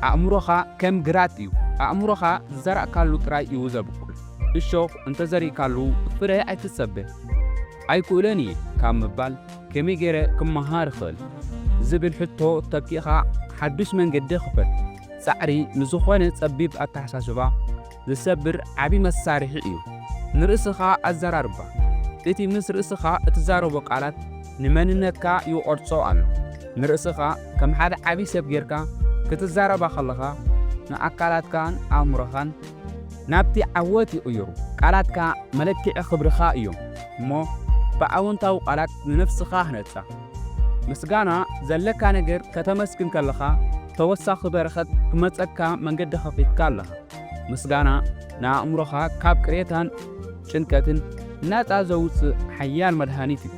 ኣእምሮኻ ከም ግራት እዩ፣ ኣእምሮኻ ዝዘራእካሉ ጥራይ እዩ ዘብቁል። እሾኽ እንተ ዘሪእካሉ ፍረ ኣይትጸበ። ኣይክእሎን እየ ካብ ምባል ከመይ ገይረ ክመሃር እኽእል? ዝብል ሕቶ ተኪእካ ሓዱሽ መንገዲ ክፈት። ጻዕሪ ንዝኾነ ጸቢብ ኣተሓሳስባ፣ ዝሰብር ዓቢ መሳርሒ እዩ። ንርእስኻ ኣዘራርባ። እቲ ምስ ርእስኻ እትዛረቦ ቃላት ንመንነትካ ይቖርጾ ኣሎ። ንርእስኻ ከም ሓደ ዓቢ ሰብ ጌርካ ክትዛረባ ከለኻ፣ ንኣካላትካን ኣእምሮኻን ናብቲ ዓወት ይቕይሩ። ቃላትካ መለክዒ ክብርኻ እዮም እሞ ብኣወንታዊ ቃላት ንነፍስኻ ህነጻ። ምስጋና ዘለካ ነገር ከተመስግን ከለኻ ተወሳኺ በረኸት ክመጸካ መንገዲ ከፊትካ ኣለኻ። ምስጋና ንኣእምሮኻ ካብ ቅሬታን ጭንቀትን ናጻ ዘውጽእ ሓያል መድሃኒት እዩ።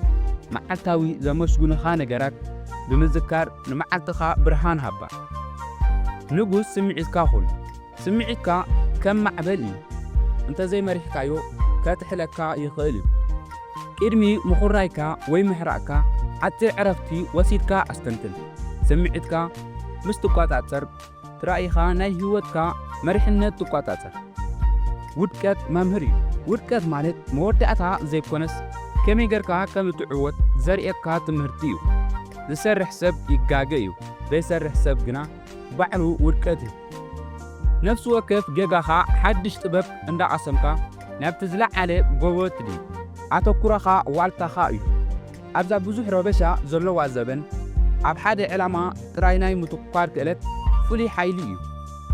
መዓልታዊ ዘመስግኑኻ ነገራት ብምዝካር ንመዓልትኻ ብርሃን ሃባ። ንጉስ ስምዒትካ ኩን። ስምዒትካ ከም ማዕበል እዩ፣ እንተ ዘይመሪሕካዮ ከጥሕለካ ይኽእል እዩ። ቅድሚ ምኹራይካ ወይ ምሕራቕካ ሓጺር ዕረፍቲ ወሲድካ ኣስተንትን። ስምዒትካ ምስ ትቆጻጸር፣ ጥራይ'ኻ ናይ ህይወትካ መሪሕነት ትቆጻጸር። ውድቀት መምህር እዩ። ውድቀት ማለት መወዳእታ ዘይኮነስ ከመይ ጌርካ ከም እትዕወት ዘርእየካ ትምህርቲ እዩ። ዝሰርሕ ሰብ ይጋገ እዩ፣ ዘይሰርሕ ሰብ ግና ባዕሉ ውድቀት እዩ። ነፍሲ ወከፍ ጌጋኻ ሓድሽ ጥበብ እንዳቐሰምካ ናብቲ ዝለዓለ ጎቦ ትድይብ። ኣተኩሮኻ ዋልታኻ እዩ። ኣብዛ ብዙሕ ረበሻ ዘሎዋ ዘበን፣ ኣብ ሓደ ዕላማ ጥራይ ናይ ምትኩኳር ክእለት ፍሉይ ሓይሊ እዩ።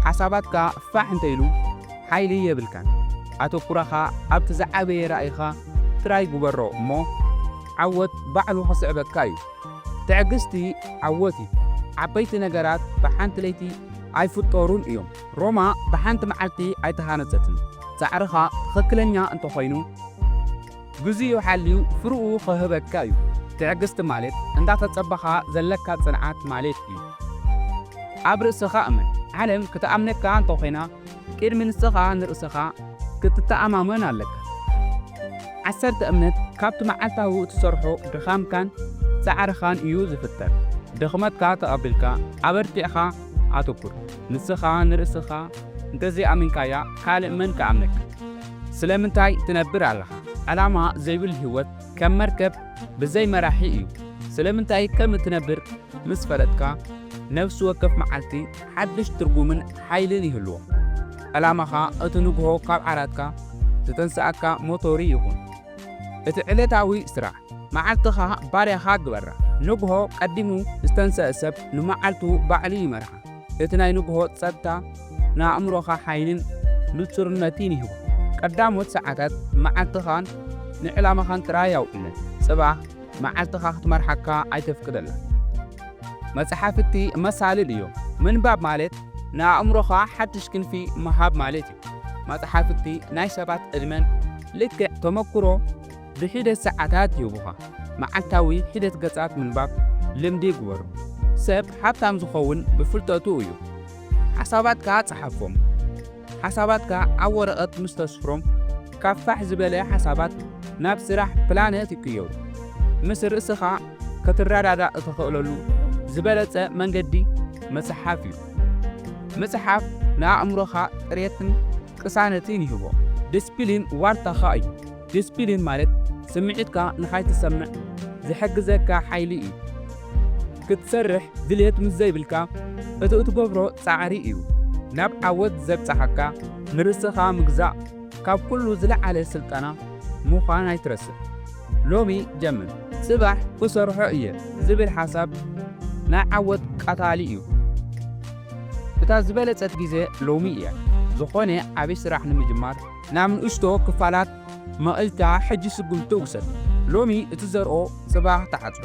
ሓሳባትካ ፋሕ እንተኢሉ ሓይሊ የብልካን። ኣተኩሮኻ ኣብቲ ዝዓበየ ራኢኻ ጥራይ ግበሮ እሞ ዓወት ባዕሉ ክስዕበካ እዩ። ትዕግስቲ ዓወት እዩ። ዓበይቲ ነገራት ብሓንቲ ለይቲ ኣይፍጠሩን እዮም። ሮማ ብሓንቲ መዓልቲ ኣይተሃነጸትን። ጻዕርኻ ትኽክለኛ እንተኾይኑ፣ ግዜኡ ሓልዩ ፍርኡ ክህበካ እዩ። ትዕግስቲ ማለት እንዳተጸበኻ ዘለካ ጽንዓት ማለት እዩ። ኣብ ርእስኻ እመን። ዓለም ክትኣምነካ እንተኾይና ቅድሚ ንስኻ ንርእስኻ ክትተኣማመን ኣለካ። ዓሰርተ እምነት ካብቲ መዓልታዊ እትሰርሖ ድኻምካን ጻዕርኻን እዩ ዝፍጠር። ድኽመትካ ተቐቢልካ ኣበርቲዕኻ ኣተኩር። ንስኻ ንርእስኻ እንተዘይኣሚንካያ ካልእ መን ክኣምነካ። ስለምንታይ ትነብር ኣለኻ? ዕላማ ዘይብሉ ህይወት ከም መርከብ ብዘይ መራሒ እዩ። ስለምንታይ ከም እትነብር ምስ ፈለጥካ፣ ነፍሲ ወከፍ መዓልቲ ሓድሽ ትርጉምን ሓይልን ይህልዎ። ዕላማኻ እቲ ንግሆ ካብ ዓራትካ ዝተንስኣካ ሞቶሪ ይኹን። እቲ ዕለታዊ ስራሕ። መዓልትኻ ባርያኻ ግበራ። ንግሆ ቀዲሙ ዝተንስኣ ሰብ ንመዓልቱ ባዕሉ ይመርሓ። እቲ ናይ ንግሆ ጸጥታ ንኣእምሮኻ ሓይልን ንጹርነትን ይህቦ። ቀዳሞት ሰዓታት መዓልትኻን ንዕላማኻን ጥራይ ኣውዕለን። ጽባሕ መዓልትኻ ክትመርሓካ ኣይተፍቅደላ። መጽሓፍቲ መሳልል እዮም። ምንባብ ማለት ንኣእምሮኻ ሓድሽ ክንፊ ምሃብ ማለት እዩ። መጽሓፍቲ ናይ ሰባት ዕድመን ልክዕ ተመኩሮ ብሒደት ሰዓታት ይህቡኻ። መዓልታዊ ሒደት ገጻት ምንባብ ልምዲ ግበሩ። ሰብ ሃብታም ዝኸውን ብፍልጠቱ እዩ። ሓሳባትካ ጸሓፎም። ሓሳባትካ ኣብ ወረቐት ምስ ተስፍሮም፣ ካብ ፋሕ ዝበለ ሓሳባት ናብ ስራሕ ፕላነት ይቅየሩ። ምስ ርእስኻ ክትረዳዳእ እትኽእለሉ ዝበለጸ መንገዲ ምጽሓፍ እዩ። ምጽሓፍ ንኣእምሮኻ ጽሬትን ቅሳነትን ይህቦ። ድስፕሊን ዋልታኻ እዩ። ዲስፒሊን ማለት ስምዒትካ ንኻይትሰምዕ ዝሕግዘካ ሓይሊ እዩ። ክትሰርሕ ድልየት ምስ ዘይብልካ እቲ እትገብሮ ጻዕሪ እዩ ናብ ዓወት ዘብጽሓካ። ንርእስኻ ምግዛእ ካብ ኩሉ ዝለዓለ ስልጠና ምዃን ኣይትረስዕ። ሎሚ ጀምር ጽባሕ ክሰርሖ እየ ዝብል ሓሳብ ናይ ዓወት ቀታሊ እዩ። እታ ዝበለጸት ግዜ ሎሚ እያ ዝኾነ ዓቢ ስራሕ ንምጅማር። ናብ ንእሽቶ ክፋላት መቒልካ ሕጂ ስጉምቲ ውሰድ። ሎሚ እትዘርኦ ጽባሕ ትዓጽዶ።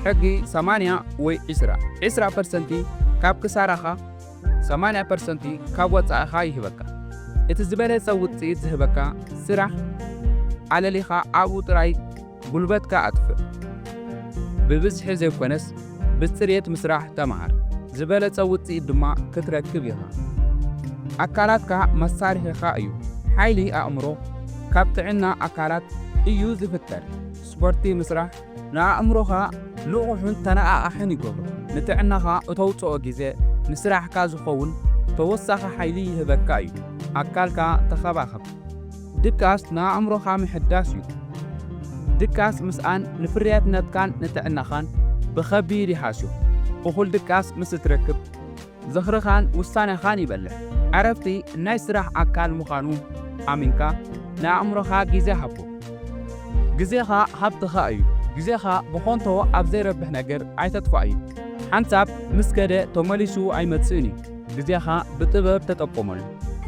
ሕጊ ሰማንያ ወይ ዕስራ፣ ዕስራ ፐርሰንቲ ካብ ክሳራኻ ሰማንያ ፐርሰንቲ ካብ ወጻኢኻ ይህበካ። እቲ ዝበለጸ ውጽኢት ዝህበካ ስራሕ ኣለሊኻ ኣብኡ ጥራይ ጉልበትካ ኣጥፍእ። ብብዝሒ ዘይኮነስ ብጽሬት ምስራሕ ተመሃር፣ ዝበለጸ ውጽኢት ድማ ክትረክብ ኢኻ። ኣካላትካ መሳርሒኻ እዩ። ሓይሊ ኣእምሮ ካብ ጥዕና ኣካላት እዩ ዝፍጠር። ስፖርቲ ምስራሕ ንኣእምሮኻ ንቑሕን ተነቓቓሕን ይገብሮ። ንጥዕናኻ እተውጽኦ ግዜ ንስራሕካ ዝኸውን ተወሳኺ ሓይሊ ይህበካ እዩ። ኣካልካ ተኸባኸብ። ድቃስ ንኣእምሮኻ ምሕዳስ እዩ። ድቃስ ምስኣን ንፍርያትነትካን ንጥዕናኻን ብኸቢድ ይሃስዮ። እኹል ድቃስ ምስ እትረክብ፣ ዝኽርኻን ውሳነኻን ይበልሕ። ዕረፍቲ ናይ ስራሕ ኣካል ምዃኑ ኣሚንካ ንኣእምሮኻ ግዜ ሃቦ። ግዜኻ ሃብትኻ እዩ። ግዜኻ ብኾንቶ ኣብ ዘይረብሕ ነገር ኣይተጥፍኣዮ። ሓንሳብ ምስ ከደ ተመሊሱ ኣይመጽእን እዩ። ግዜኻ ብጥበብ ተጠቀመሉ።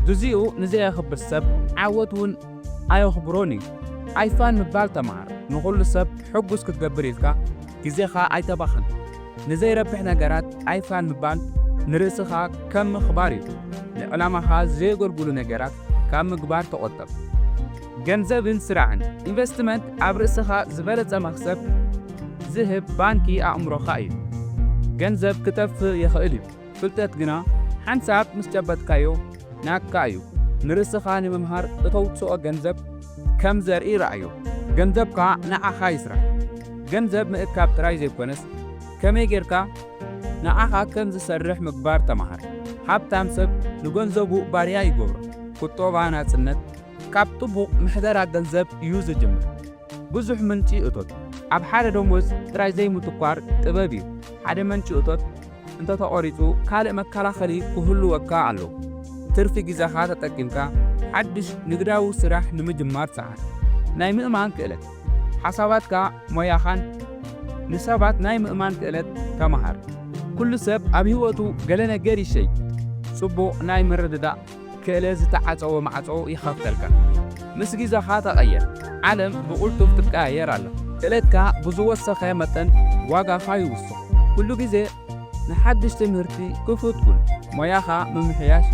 ግዚኡ ንዘየኽብር ሰብ ዓወት ውን ኣየኽብሮን እዩ። ኣይፋል ምባል ተመሃር። ንኹሉ ሰብ ሕጉስ ክትገብር ኢልካ ግዜኻ ኣይተባኽን። ንዘይረብሕ ነገራት ኣይፋል ምባል ንርእስኻ ከም ምኽባር እዩ። ንዕላማኻ ዘየገልግሉ ነገራት ካብ ምግባር ተቖጠብ። ገንዘብን ስራሕን። ኢንቨስትመንት ኣብ ርእስኻ ዝበለጸ መኽሰብ ዝህብ ባንኪ ኣእምሮኻ እዩ። ገንዘብ ክጠፍእ ይኽእል እዩ። ፍልጠት ግና ሓንሳብ ምስ ጨበጥካዮ ናትካ እዩ። ንርእስኻ ንምምሃር እተውጽኦ ገንዘብ ከም ዘርኢ ርኣዮ። ገንዘብካ ንዓኻ ይስራሕ። ገንዘብ ምእካብ ጥራይ ዘይኰነስ፣ ከመይ ጌርካ ንዓኻ ከም ዝሰርሕ ምግባር ተማሃር። ሃብታም ሰብ ንገንዘቡ ባርያ ይገብሮ። ቍጠባ ናጽነት ካብ ጥቡቕ ምሕደራ ገንዘብ እዩ ዝጅምር። ብዙሕ ምንጪ እቶት ኣብ ሓደ ደሞዝ ጥራይ ዘይምትኳር ጥበብ እዩ። ሓደ መንጪ እቶት እንተ ተቖሪጹ ካልእ መከላኸሊ ክህሉወካ ኣለዎ። ትርፊ ግዘኻ ተጠቂምካ ሓድሽ ንግዳዊ ስራሕ ንምጅማር ጸዓት። ናይ ምእማን ክእለት፣ ሓሳባትካ ሞያኻን ንሰባት ናይ ምእማን ክእለት ተመሃር። ኩሉ ሰብ ኣብ ህይወቱ ገለ ነገር ይሸይ ጽቡቕ ናይ ምርድዳእ። ክእለ ዝተዓጸወ ማዕጾ ይኸፍተልካ። ምስ ግዘኻ ተቐየር። ዓለም ብቕልጡፍ ትቀያየር ኣላ። ክእለትካ ብዝወሰኸ መጠን ዋጋኻ ይውስኽ። ኩሉ ግዜ ንሓድሽ ትምህርቲ ክፉት ኩን። ሞያኻ ምምሕያሽ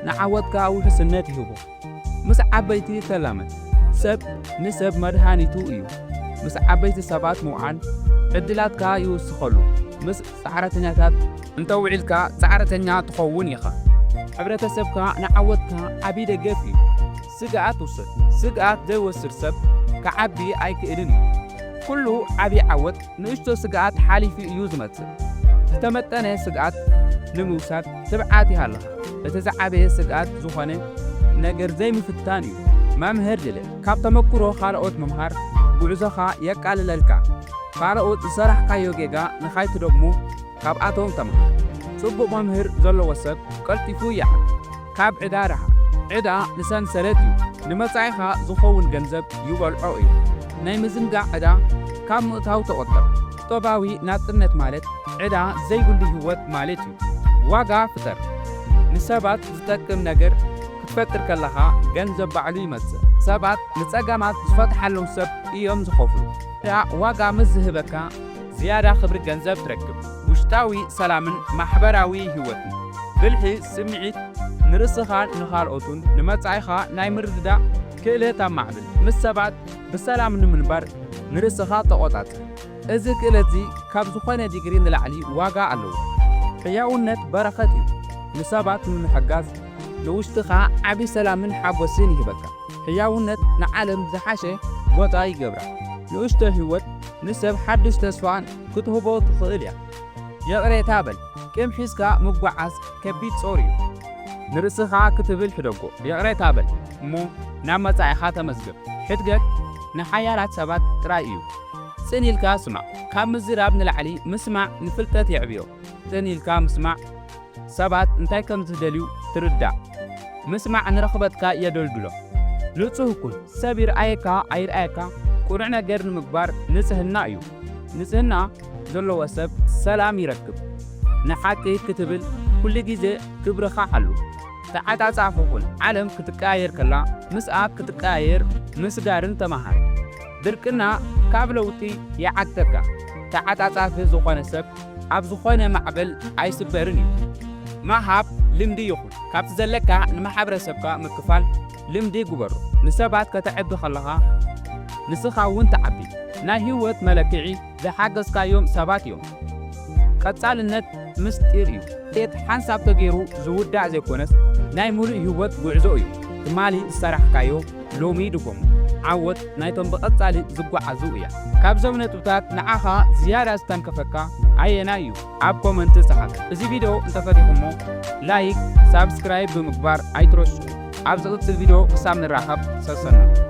ንዓወትካ ውሕስነት ይህቦ። ምስ ዓበይቲ ተላመድ። ሰብ ንሰብ መድሃኒቱ እዩ። ምስ ዓበይቲ ሰባት ምውዓል ዕድላትካ ይውስኸሉ። ምስ ጻዕረተኛታት እንተ ውዒልካ ጻዕረተኛ ትኸውን ኢኻ። ሕብረተሰብካ ንዓወትካ ዓቢ ደገፍ እዩ። ስግኣት ውሰድ። ስግኣት ዘይወስድ ሰብ ክዓቢ ኣይክእልን እዩ። ኩሉ ዓቢ ዓወት ንእሽቶ ስግኣት ሓሊፉ እዩ ዝመጽእ። ዝተመጠነ ስግኣት ንምውሳድ ትብዓት ይሃልኻ። እቲ ዝዓበየ ስግኣት ዝኾነ ነገር ዘይምፍታን እዩ። መምህር ልለ። ካብ ተመኩሮ ካልኦት ምምሃር ጉዕዞኻ የቃልለልካ። ካልኦት ዝሰራሕካዮ ጌጋ ንኻይትደግሞ ካብኣቶም ተምሃር። ጽቡቕ መምህር ዘለዎ ሰብ ቀልጢፉ ይዓቢ። ካብ ዕዳ ርሓቕ። ዕዳ ንሰንሰለት እዩ፣ ንመጻኢኻ ዝኸውን ገንዘብ ይበልዖ እዩ። ናይ ምዝንጋዕ ዕዳ ካብ ምእታው ተቖጠብ። ቁጠባዊ ናጽነት ማለት ዕዳ ዘይብሉ ህይወት ማለት እዩ። ዋጋ ፍጠር። ንሰባት ዝጠቅም ነገር ክትፈጥር ከለኻ ገንዘብ ባዕሉ ይመጽእ። ሰባት ንጸገማት ዝፈትሓሎም ሰብ እዮም ዝኸፍሉ። ንኣ ዋጋ ምስ ዝህበካ ዝያዳ ክብሪ ገንዘብ ትረክብ። ውሽጣዊ ሰላምን ማሕበራዊ ህይወትን። ብልሒ ስምዒት ንርእስኻን ንኻልኦትን ንመጻኢኻ ናይ ምርድዳእ ክእለት ኣማዕብል። ምስ ሰባት ብሰላም ንምንባር ንርእስኻ ተቖጻጸር። እዚ ክእለትዚ ካብ ዝኾነ ዲግሪ ንላዕሊ ዋጋ ኣለዎ። ሕያውነት በረኸት እዩ፣ ንሰባት ንምሕጋዝ። ንውሽጥኻ ዓቢ ሰላምን ሓጎስን ይህበካ። ሕያውነት ንዓለም ዝሓሸ ቦታ ይገብራ። ንእሽቶ ህይወት ንሰብ ሓድሽ ተስፋ ክትህቦ ትኽእል እያ። ይቕሬታ በል፣ ቂም ሒዝካ ምጉዓዝ ከቢድ ጾር እዩ። ንርእስኻ ክትብል ሕደጎ፣ ይቕሬታ በል እሞ ናብ መጻኢኻ ተመዝገብ። ሕድገት ንሓያላት ሰባት ጥራይ እዩ። ጽን ኢልካ ስማዕ። ካብ ምዝራብ ንላዕሊ ምስማዕ ንፍልጠት የዕብዮ። ጽን ኢልካ ምስማዕ ሰባት እንታይ ከም ዝደልዩ ትርዳእ። ምስማዕ ንረኽበትካ የደልድሎ። ንጹህ ኩን። ሰብ ይርኣየካ ኣይርኣየካ ቅኑዕ ነገር ንምግባር ንጽህና እዩ። ንጽህና ዘለዎ ሰብ ሰላም ይረክብ። ንሓቂ ክትብል ኩሉ ግዜ ክብርኻ ሓሉ። ተዓጻጻፊ ኩን። ዓለም ክትቀያየር ከላ ምስኣ ክትቀያየር ምስጋርን ተመሃር። ድርቅና ካብ ለውጢ ይዓግተካ። ተዓጻጻፊ ዝኾነ ሰብ ኣብ ዝኾነ ማዕበል ኣይስበርን እዩ። ምሃብ ልምዲ ይኹን። ካብቲ ዘለካ ንማሕበረሰብካ ምክፋል ልምዲ ግበሮ። ንሰባት ከተዕቢ ከለኻ ንስኻ'ውን ትዓቢ። ናይ ህይወት መለክዒ! ዝሓገዝካዮም ሰባት እዮም። ቀጻልነት ምስጢር እዩ። ውጽኢት ሓንሳብ ተገይሩ ዝውዳእ ዘይኮነስ ናይ ምሉእ ሂወት ጉዕዞ እዩ። ትማሊ ዝሰራሕካዮ ሎሚ ድገሞ። ዓወት ናይቶም ብቐጻሊ ዝጓዓዙ እያ። ካብዞም ነጥብታት ንዓኻ ዝያዳ ዝተንከፈካ ኣየናይ እዩ? ኣብ ኮመንት ጸሓፍ። እዚ ቪድዮ እንተፈቲኹሞ ላይክ ሳብስክራይብ ብምግባር ኣይትረስዑ። ኣብ ዝቕጽል ቪድዮ ክሳብ ንራኸብ ሰሰኑ።